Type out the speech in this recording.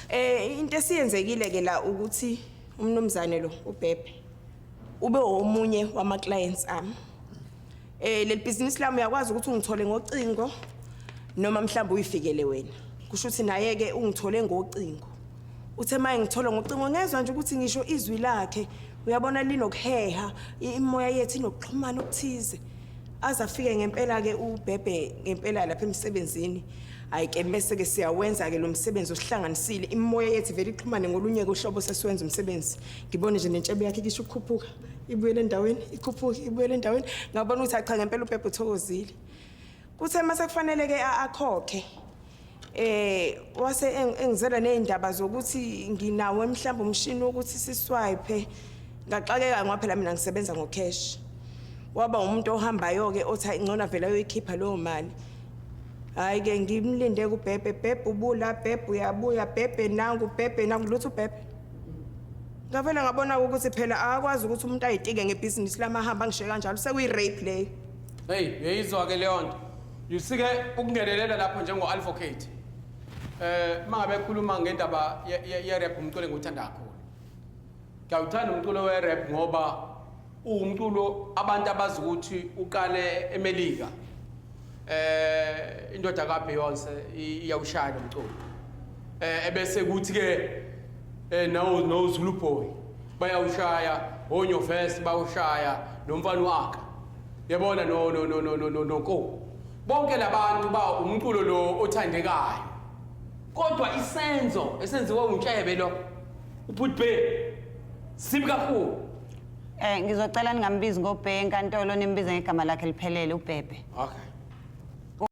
Eh into esiyenzekile ke la ukuthi umnumzane lo ubhebhe ube omunye wama clients ami. Eh leli business lami uyakwazi ukuthi ungithole ngocingo noma mhlawumbe uyifikele wena. Kusho ukuthi naye ke ungithole ngocingo. Uthe maye ngithola ngocingo ngezwe nje ukuthi ngisho izwi lakhe uyabona linokuheha imoya yethu inokuxhumana okuthize. Aze afike ngempela ke ubhebhe ngempela lapha emsebenzini. hayi ke bese-ke siyawenza-ke lo msebenzi osihlanganisile imimoya yethu vele ixhumane ngolunye-ke uhlobo sesiwenza umsebenzi ngibone nje nentshebe yakhe kisho ukukhuphuka ibuyele endaweni ikhuphuke ibuyele endaweni ngabona ukuthi acha ngempela ubhebhe uthokozile kuthe uma sekufanele-ke akhokhe eh wase engizela nezindaba zokuthi nginawo mhlawumbe umshini wokuthi siswipe ngaxakeka ngoba phela mina ngisebenza ngocash waba umuntu ohambayo ke othi ingcona vele ayoyikhipha leyo mali hayi ke ngimlinde kubhebhe bhebhe ubula bhebhe uyabuya bhebhe nangu bhebhe nangu lutho bhebhe ngavele ngabona ukuthi phela akakwazi ukuthi umuntu ayitike ngebhizinisi lamahamba ngishe kanjalo sekuyi-rape leyo heyi uyayizwa ke leyo nto yusike ukungenelela lapho njengo-advocate um uma ngabe ekhuluma ngendaba ye-rap umculo engiwuthanda kakhulu ngiyawuthanda umculo we-rap ngoba Uwumculo abantu abazi ukuthi uqale eMelika. Eh indoda ka Beyonce iyawushaya lo mculo. Eh ebese kuthi ke eh nawo no Zulu boy bayawushaya honyo vest bawushaya nomfana wakhe. Yabona no no no no no no ko. Bonke labantu ba umculo lo othandekayo. Kodwa isenzo esenziwa uNtshebe lo ubhutbe sibi kakhulu. Eh ngizocela ningambizi ngobhe enkantolo nimbize ngegama lakhe liphelele ubhebhe. Okay.